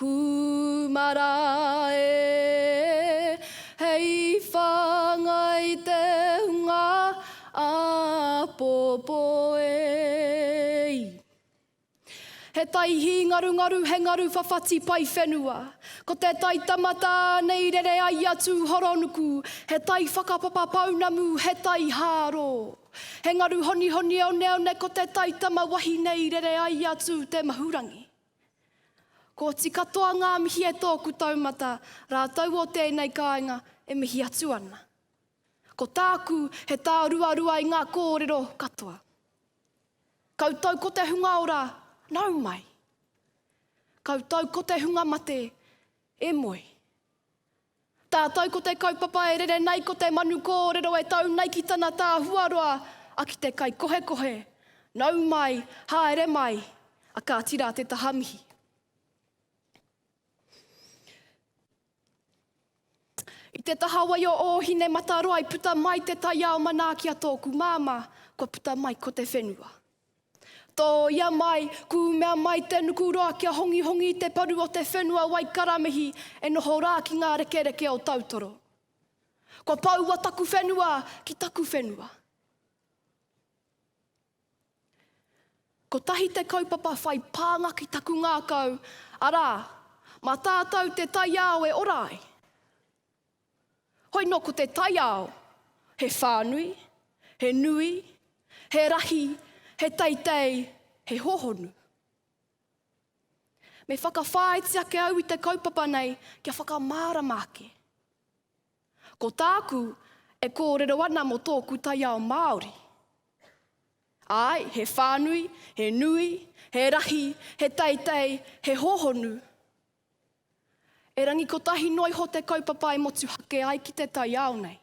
Kūmara e Hei whāngai te hunga āpōpō e i He tai hī ngarungaru He ngaru whawhati pai whenua Ko te tai tama tānei Rere ai a Tūhoronuku He tai whakapapa pounamu He tai hārō He ngaru honihoni oneone Ko te tai tama wahine i rere ai a Tūtemahurangi. Kooti katoa ngaa mihi e tooku taumata raatou o teenei kaainga e mihi atu ana. Ko taaku he taa ruarua i ngaa koorero katoa. Koutou ko te hunga ora, nau mai. Koutou ko te hunga mate, e moe. Tātou ko te kaupapa e rere nei ko te manu kōrero e tau nei ki tana tā huaroa a ki te kaikohekohe, nau mai, haere mai, a kāti rā te taha mihi. I te taha wai o Ōhinemataroa i puta mai te taiao manaaki a tōku māmā, kua puta mai ko te whenua. Tōia mai, kūmea mai te nuku roa kia hongihongi i te paru o te whenua wai karamihi e noho rā ki ngā rekereke o Tautoro. Kua poua taku whenua ki taku whenua. Kotahi te kaupapa whai pānga ki taku ngākau, arā, mā tātou te taiao e ora ai. Hoi nō ko te taiao, he whānui, he nui, he rahi, he teitei, he hohonu. Me whakawhāiti ake au i te kaupapa nei kia whakamārama ake. Ko tāku e kōrero ana mō tōku taiao Māori. Āe, he whānui, he nui, he rahi, he teitei, he hohonu, Erangi kotahi noa iho te kaupapa e motuhake ai ki te taiao nei.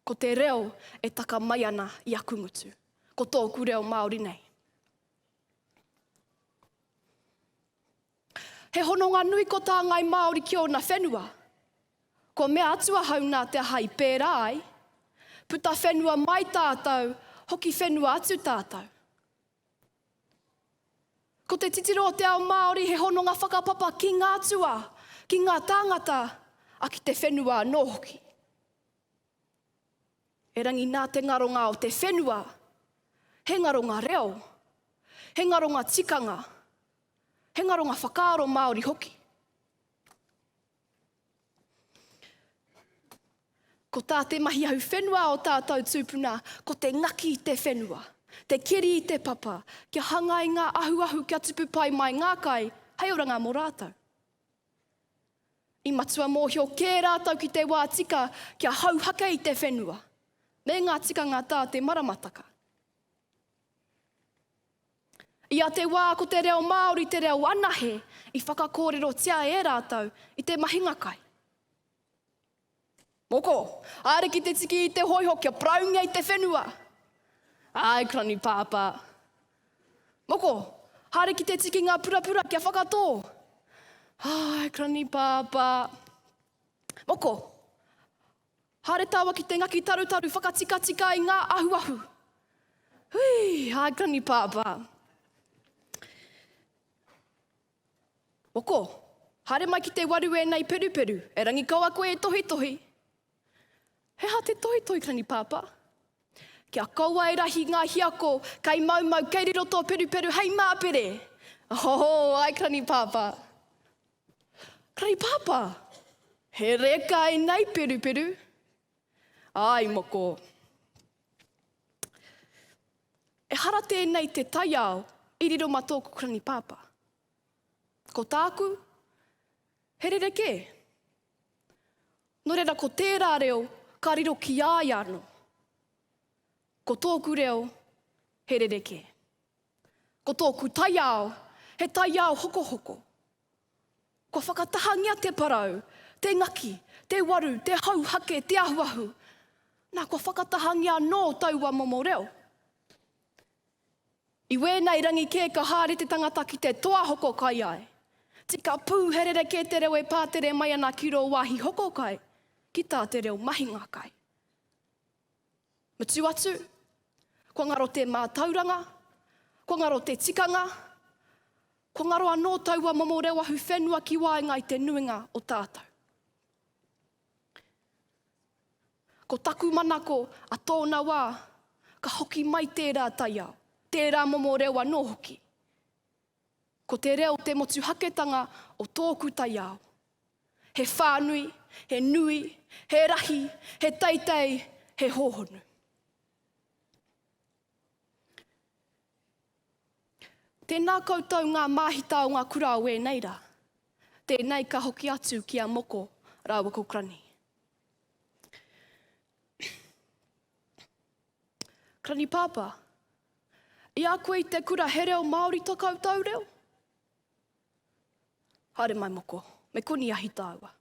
Ko te reo e taka mai ana i aku ngutu, ko tōku reo Māori nei. He hononga nui ko tā Ngai Māori ki ōna whenua. Kua mea atu ahau nā te aha i pērā ai, puta whenua mai tātou, hoki whenua atu tātou. Ko te titiro o te ao Māori he hononga whakapapa ki ngā atua, ki ngā tāngata, a ki te whenua anō hoki. Erangi nā te ngaronga o te whenua, he ngaronga reo, he ngaronga tikanga, he ngaronga whakaaro Māori hoki. Ko tā te mahi ahu whenua o tātou tūpuna, ko te ngaki i te whenua, te keri i te papa, kia hangai ngā ahuahu kia tupu pai mai ngā kai hei oranga mō rātou. I matua mōhio kē rātou ki te wā tika kia hauhake i te whenua, me ngā tikanga tā te maramataka. I a te wā ko te reo Māori te reo anahe i whakakōrerotia e rātou i te mahinga kai. Moko, haere ki te tiki i te hōiho kia paraungia i te whenua. Āe, Krani Pāpā. Moko, haere ki te tiki ngā purapura kia whakatō. Āe, Krani Pāpā. Moko, Haere taua ki te ngaki tarutaru whakatikatika i ngā ahuahu. Hui, hai kani pāpā. Moko, haere mai ki te waru ēna i peruperu, e Rangikawa koe e tohitohi. He aha te tohitohi kani pāpā? Kia kaua e rahi ngā hiako, kei maumau, kei riro tō peruperu, hei māpere. Oho, hai kani pāpā. Kei Papa! He rekai nei Peruperu! Aai moko! Ehara tēnei te taiao i riro ma tōku Granny Papa. Ko tāku, he rerekē. No reira ko tērā reo ka riro ki a ia ano. Ko tōku reo, he rerekē. Ko tōku taiao, he taiao hokohoko. Kua whakatahangia te parau, te ngaki, te waru, te hauhake, te ahuahu. Nā, kua whakatahangia anō taua momo reo. I wēnei rangi kē ka haere te tangata ki te toa hoko kai ai. Tika pū he rerekē te reo e pātere mai ana ki rō wāhi hoko kai, ki tā te reo mahinga kai. Mutu atu, kua ngaro te mātauranga, kua ngaro te tikanga, kua ngaro anō taua momo reo ahu whenua ki waenga i te nuinga o tātou. Ko taku manako a tōna wā, ka hoki mai tērā taiao, tērā momo reo anō hoki. Ko te reo te motuhaketanga o tōku taiao. He whānui, he nui, he rahi, he teitei, he hōhonu. Tēnā koutou ngā māhita o ngā kura o ēnei rā. Tēnei ka hoki atu ki a Moko rāua ko Crunny. Karanipāpā, I a koe i te kura he reo Māori to koutou reo? Haere mai moko, me koni ahi tāua.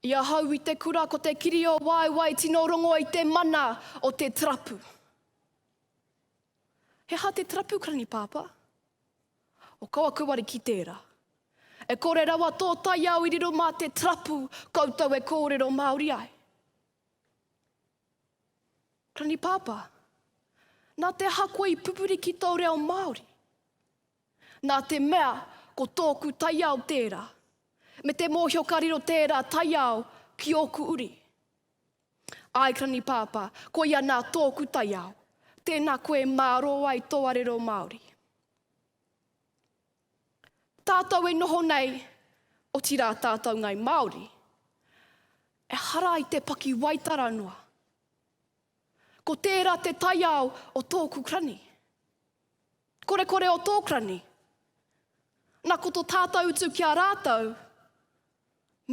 I ahau i te kura ko te kiri o waewae tino rongo i te mana o te trapu. He aha te trapu, Karanipāpā? O kau aku wari ki tērā. E kore rawa tō taiao i riro mā te trapu koutou e kōrero Māori ai. Ranipāpā, Nā te aha koe i pupuri ki tō reo Māori? Nā te mea ko tōku taiao tērā, me te mōhio ka riro tērā taiao ki ōku uri. Āe Ranipāpā, koia nā tōku taiao, tēnā koe e mārō ai tō arero Māori. Tātou e noho nei, otirā tātou ngai Māori, ehara i te paki waitara noa. Ko tērā te taiao o tōku krani. Korekore o tō krani. Na ko to tātou utu ki a rātou,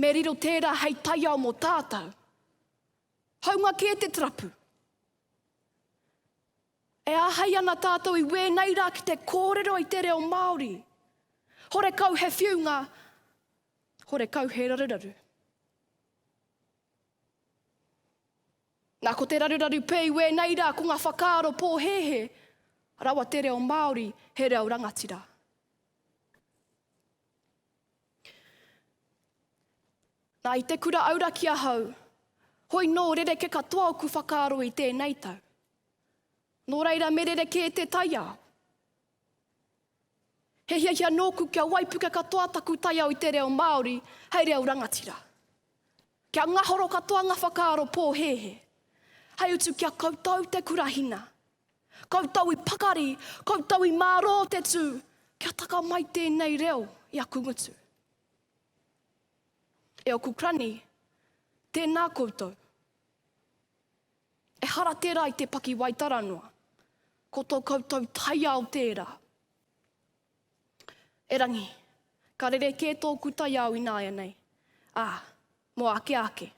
me riro tērā hei taiao mō tātou. Haunga kē te trapu. E āhei ana tātou i wēnei rā ki te kōrero i te reo Māori. Horekau he whiunga, horekau he raruraru. Nā ko te raruraru pē i wēnei rā ko ngā whakaaro pōhēhē, rawa te reo Māori he reo rangatira. Nā i te kura auraki ahau, hoi nō rereke katoa oku whakaaro i tēnei tau. Nō reira me rerekē te taiao. He hiahia nōku kia waipuke katoa taku taiao i te reo Māori hei reo rangatira. Kia ngahoro katoa ngā whakaaro pōhēhē. Hei utu kia koutou te kurahina. Koutou i pakari, koutou i mārō te tū, kia taka mai tēnei reo i aku ngutu. E oku krani, tēnā koutou. Ehara tērā i te pakiwaitara noa. Ko tō koutou taiao tērā. Erangi, ka rerekē tōku taiao ināianei, ā, mō āke āke.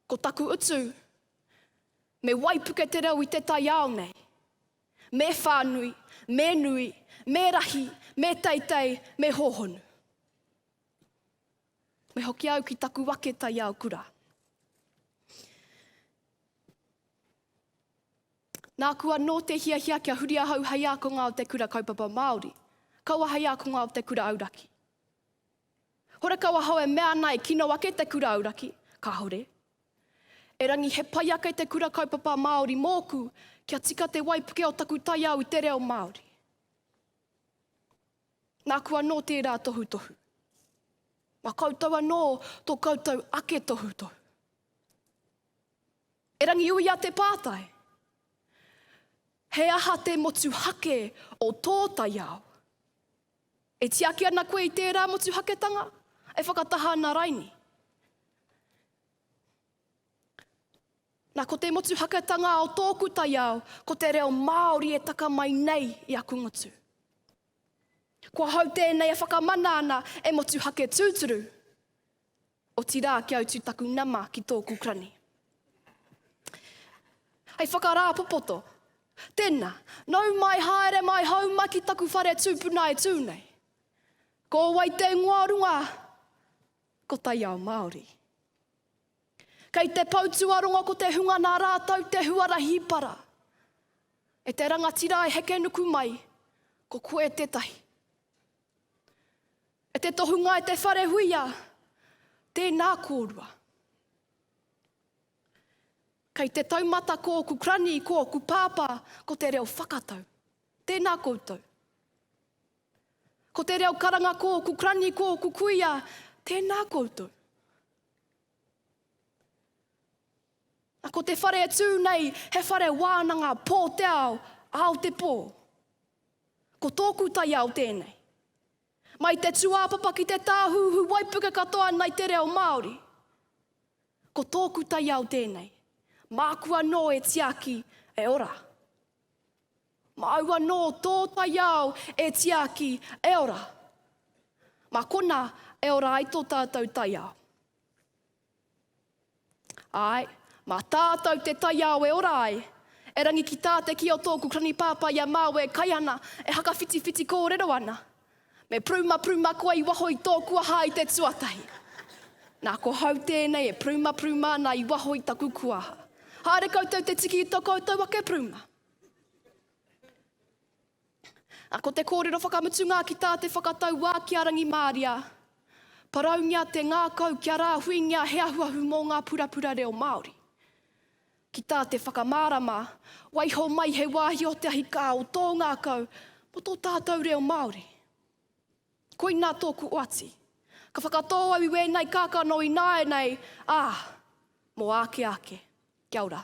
Ko taku utu, me waipuke te reo i te taiao nei. Me whānui, me nui, me rahi, me teitei, me hōhonu. Me hoki au ki taku wake taiao kura. Nāku anō te hiahia kia huri ahau hei ākonga o te kura kaupapa Māori, kaua hei ākonga o te kura auraki. Horekau ahau e mea ana e kino ake te kura auraki, kāore. Erangi he pai ake te kura kaupapa Māori mōku kia tika te waipuke o taku taiao i te reo Māori. Nāku anō tērā tohutohu. Mā koutou anō tō koutou ake tohutohu. E Rangiuia te pātai, he aha te motuhake o tō taiao? E tiaki ana koe i tērā motuhaketanga? E whakataha ana raini? Na, ko te motuhakatanga o tōku taiao, ko te reo Māori e taka mai nei i aku ngutu. Kua hau tēnei e whakamana ana e motuhake tūturu, otirā kia utu taku nama ki tōku krani. Hei whakarāpopoto, tēnā, nau mai haere mai hau mai ki taku whare tūpuna e tū nei. Ko wai te ingoa o runga? Ko taiao Māori. Kei te pou tuarongo ko te hunga nā rātou te huarahi para. E te rangatira e heke nuku mai, ko koe tētahi. E te tohunga e te whare huia, tēnā kōrua. Kei te taumata kōku krani, kōku pāpā, ko te reo whakatau. Tēnā koutou. Ko te reo karanga ko ku krani ko ku kuia, tēnā koutou. Na ko te whare e tū nei, he whare wānanga pō te ao, ao te pō. Ko tōku taiao tēnei. Mai te tuāpapa ki te tāhūhū waipuke katoa nei te reo Māori. Ko tōku taiao tēnei, māku anō e tiaki, e ora. Māu anō tō taiao e tiaki, e ora. Mā konā e ora ai tō tātou taiao. Āe, mā tātou te taiao e ora ai, erangi ki tā te kī o tōku Krani Pāpā i a māu e kai ana, e hakawhitiwhiti kōrero ana. Me prumapruma koa i waho i tōku aha i te tuatahi. Nā, ko hau tēnei e prumapruma ana i waho i taku kuaha. Haere koutou te tiki i tō koutou ake pruma. A ko te kōrero whakamutunga ki tā te whakatau wā ki a Rangimāria, paraungia te ngākau kia rāhuingia he ahuahu mō ngā purapura reo Māori. Ki tā te whakamārama, waiho mai he wāhi o te ahi kā o tō ngākau mō tō tātou reo Māori. Koinā tōku oati. Ka whakatō au i wēnei kākano i nāianei, ā, mō āke ake. Kia ora.